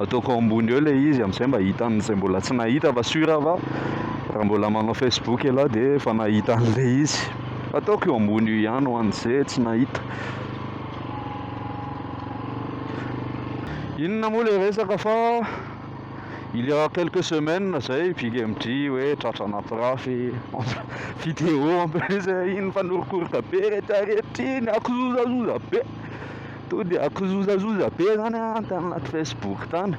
ataoko ambony eo ilay izy amin'izay mba hitan'izay mbola tsy nahita fa sur va raha mbola manao facebook ialahy dia efa nahita an'ilay izy ataoko eo ambony io ihany ho an'izay tsy nahita inona moa ilay resaka fa il y a quelques semaines izay big mg hoe tratra anaty rafy vidéo en plus iny mifanorokorka be rehetra rehetra iny akozozazoza be To de akizozazoza be zany an tany anaty facebook tany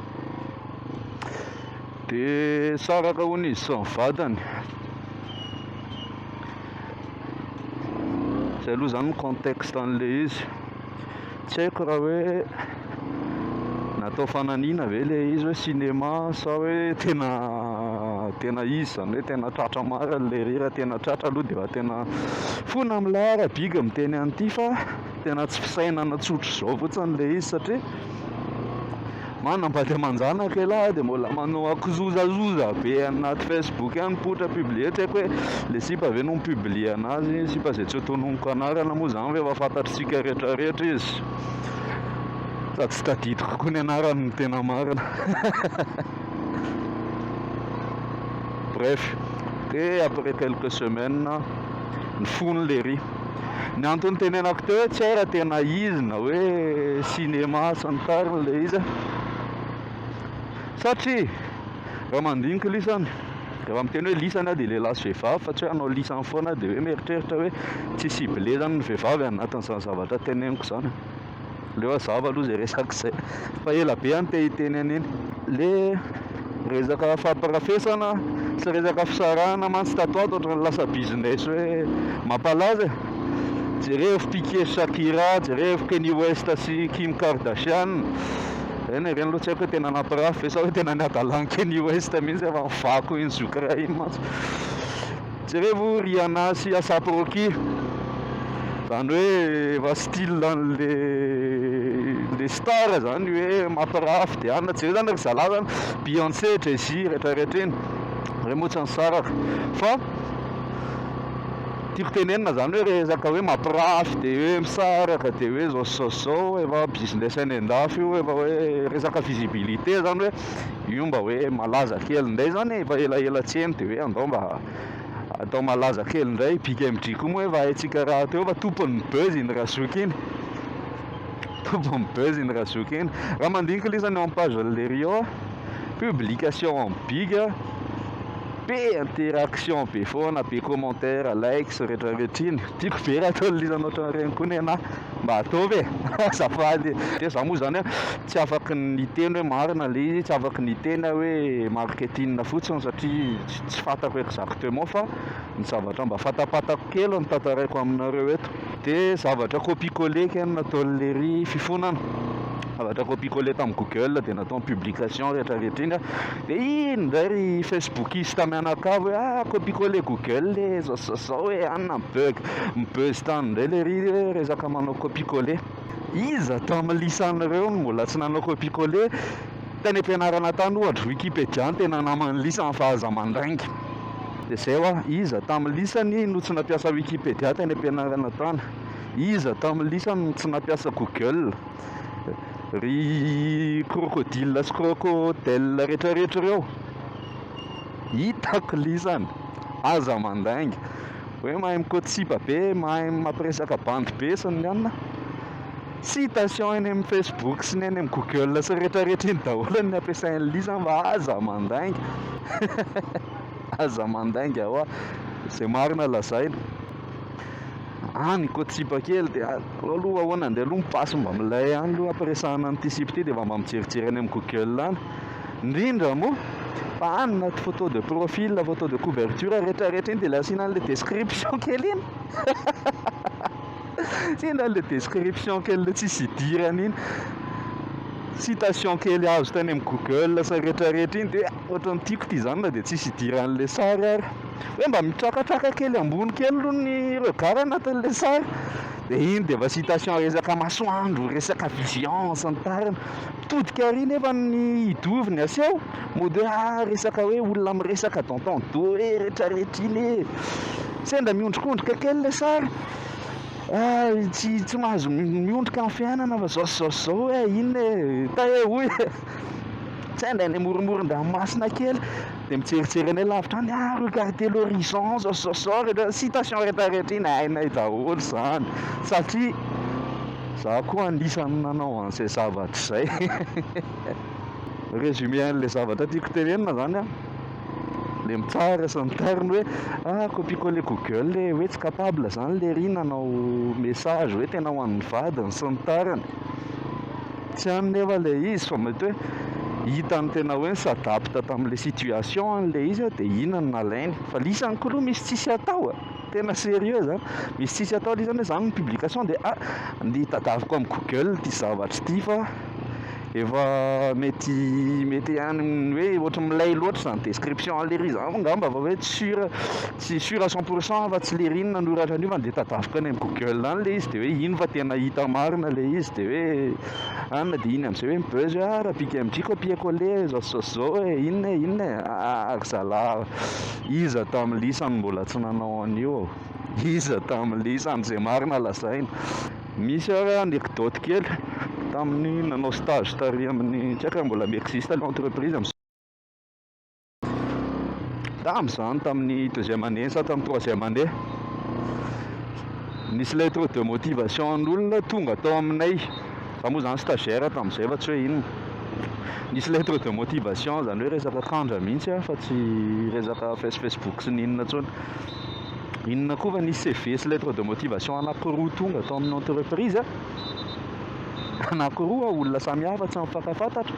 de saraka hono izy sy ny vadiny zay aloha zany ny contexte an'le izy tsy haiko raha hoe natao fananiana ve le izy hoe cinéma sa hoe tena tena izy zany hoe tena tratra marina le hira tena tratra aloha de efa tena fona milay ara big miteny an'ity fa Tena tsy fisainana tsotra izao fotsiny ilay izy satria manam-bady aman-janaka ialahy dia mbola manao akizozazoza be any anaty Facebook any poitra publier tsy haiko hoe ilay sipa ve no mi-publier anazy, sipa izay tsy ho tononiko anarana moa izany fa efa fantatsika rehetrarehetra izy sady tsy tadidiko koa ny anarany no tena marina bref dia après quelques semaines ny fony lery ny antony tenenako teo tsy hay raha tena izy na hoe cinéma sy ny tariny ilay izy satria raha mandinika lisany raha miteny hoe lisany aho dia lehilahy sy vehivavy fa tsy hoe hanao lisany foana aho dia hoe mieritreritra hoe tsy ciblé izany ny vehivavy anatin'izany zavatra teneniko izany Aleo hazava aloha izay resaka izay fa ela be aho no te hiteny an'iny. Le resaka fahaparafesana sy resaka fisarahana mantsy tato ato ohatran'ny lasa business hoe mampalaza e jerevo piqué sy shakira jerevo kenny west sy kim kardashian eny e ireny aloha tsy haiko hoe tena nampirafy ve sa hoe tena ny hadalan'i kenny west mihintsy efa nivako iny zoky iray iny mantsy Jerevo Rihanna sy Asap Rocky, zany hoe efa style anle le star zany hoe mampirafy de anona jereo zany ry zalahy zany Beyonce, Jay Z rehetra rehetra iny re moa tsy nisaraka fa tiako tenenina zany hoe resaka hoe mampirafy de hoe misaraka de hoe zao sy zao sy zao efa business any andafy io efa hoe resaka visibilité zany hoe io mba hoe malaza kely indray zany e, efa elaela tsy heno dia hoe andao mba atao malaza kely indray, i Big MJ koa moa efa haintsika rahateo fa tompon'ny buzz iny Razoky iny, tompon'ny buzz iny Razoky iny, raha mandinika lesy any amin'ny page an'i Leriot aho, publication an'i Big a, be interaction be foana, be commentaires, likes, retraretra iny, tiako be raha toa liza ohatran'ireny koa nenaha, mba ataovy e, azafady e, dia za moa zany a. Tsy afaka ny hiteny hoe marina ilay izy, tsy afaka ny hiteny aho hoe marketing fotsiny satria tsy fantako exactement fa ny zavatra mba fantapatako kely no tantaraiko aminareo eto. Dia zavatra copie coller kay no nataon'ilay ery fifonana, zavatra copie coller tamin'ny google dia natao ny publication rehetra rehetra iny an, dia iny indray ry facebookista mianakavy hoe ah copie coller google e, zao sy zao e, any na mi-bug mi-buzz tany indray ilay ery hoe resaka manao copie coller. Iza tao amin'ny lisan'ireo no mbola tsy nanao copier-coller? Tany am-pianarana tany, ohatra, Wikipedia no tena naman'ny lisany fa aza mandainga. Dia izay hoa, iza tao amin'ny lisany no tsy nampiasa Wikipedia tany am-pianarana tany? Iza tao amin'ny lisany no tsy nampiasa Google? Ry crocodile sy crocodelle rehetrarehetra ireo? Hitako lisany, aza mandainga. Hoe mahay mikotsipa be, mahay mampiresaka bandy be sy ny anona. Citation eny amin'ny Facebook sy ny eny amin'ny Google sy rehetra rehetra eny daholo ny ampiasain'i Lisa mba aza mandainga. Aza mandainga hoa. Izay marina lazaina. Any mikotsipa kely dia aleo aloha ahoana andeha aloha mipasy mba milay any aloha ampiresahana an'ity sipa ity dia efa mba mijerijery eny amin'ny Google any. ndrindra moa fa any na photo de profil na photo de couverture rehetra rehetra iny dia le asiana an'le description kely iny asiana an'le description kely le tsisy idirany iny citation kely azo tany amin'ny google sa rehetra rehetra iny dia ohatran'ny tiako ty zany na dia tsisy idiran'le sary ary hoe mba mitrakatraka kely ambony kely aloha ny regard anatin'le sary dia iny dia efa citation resaka masoandro resaka vision sy ny tariny Mitodika arỳ nefa ny hidovy ny aseho, mody hoe ah resaka hoe olona miresaka dans ton dos hoe retraretra iny e! Sendra miondrikondrika kely ilay sary, ah tsy tsy mahazo miondrika amin'ny fiainana fa izao sy izao sy izao hoe inona e! Tahe hoy e! Sendra any amoronmoron-dranomasina kely dia mijerijery any alavitra any, ah regardez l'horizon izao sy izao sy izao, rehetra citation retraretra iny hainay daholo izany satria. Za koa anisany nanao an'izay zavatra izay. Résumé an'ilay zavatra tiako tenenina zany an, le mitsara sy miterny hoe ah copie coller google e, hoe tsy capable zany lery nanao message hoe tena ho an'ny vadiny sy ny tariny, tsy any nefa le izy fa mety hoe hitany tena hoe ni-s'adapte tamin'ilay situation any le izy dia iny no nalainy, fa le izy any koa aloha misy tsisy atao e. Tena sérieux zany, misy tsisy atao le izy zany hoe zany ny publication de ah ndeha tadaviko am google ty zavatra ty fa efa mety mety any amin'ny hoe ohatry ny milay loatra zany description any lery zany angamba fa hoe tsy sur tsy sur à cent pour cent fa tsy lery no nanoratra an'io fa ndeha tadaviko any am google any le izy de hoe iny fa tena hita marina le izy de hoe anona de iny am'zay hoe mi buzz hoe ah raha pique MJ copier coller zao sy zao sy zao e inona e inona e ah ry zalahy. Iza tamin'ny lisany mbola tsy nanao an'io ô? Iza tamin'ny lisany izay marina lazaina? Misy ary anecdote kely tamin'ny nanao stage tary amin'ny tsy haiko raha mbola mi-existe ilay entreprise amin'izao. Tamin'izany tamin'ny deuxième année sa tamin'ny troisième année, nisy lettre de motivation an'olona tonga tao aminay. Za moa zany stagiaire tamin'izay fa tsy hoe inona. Nisy lettre de motivation zany hoe resaka tandra mihitsy a fa tsy resaka face facebook sy ny inona intsony. Inona koa fa nisy CV sy lettre de motivation anankiroa tonga tao amin'ny entreprise anankiroa olona samy hafa tsy mifankafantatra.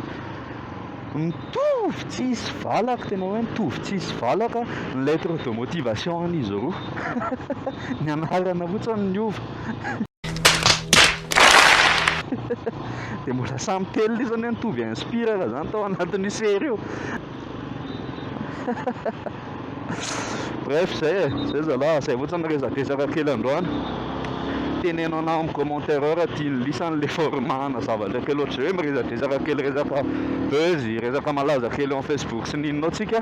Mitovy tsisy valaka tena hoe mitovy tsisy valaka ny lettre de motivation an'izy roa. Ny anarana fotsiny niova. dia mbola samy telo lesy anie nitovy inspire raha zany tao anatin'io sery io bref zay e zay zalahy zay ohatra ny resadresaka kely androany teneno anah amin'ny commentaire ao raha tian'ny lisany le format-na zavatra kely ohatr'izay hoe miresadresaka kely resaka buzz resaka malaza kely eo amin'ny facebook sy ny inona ao tsika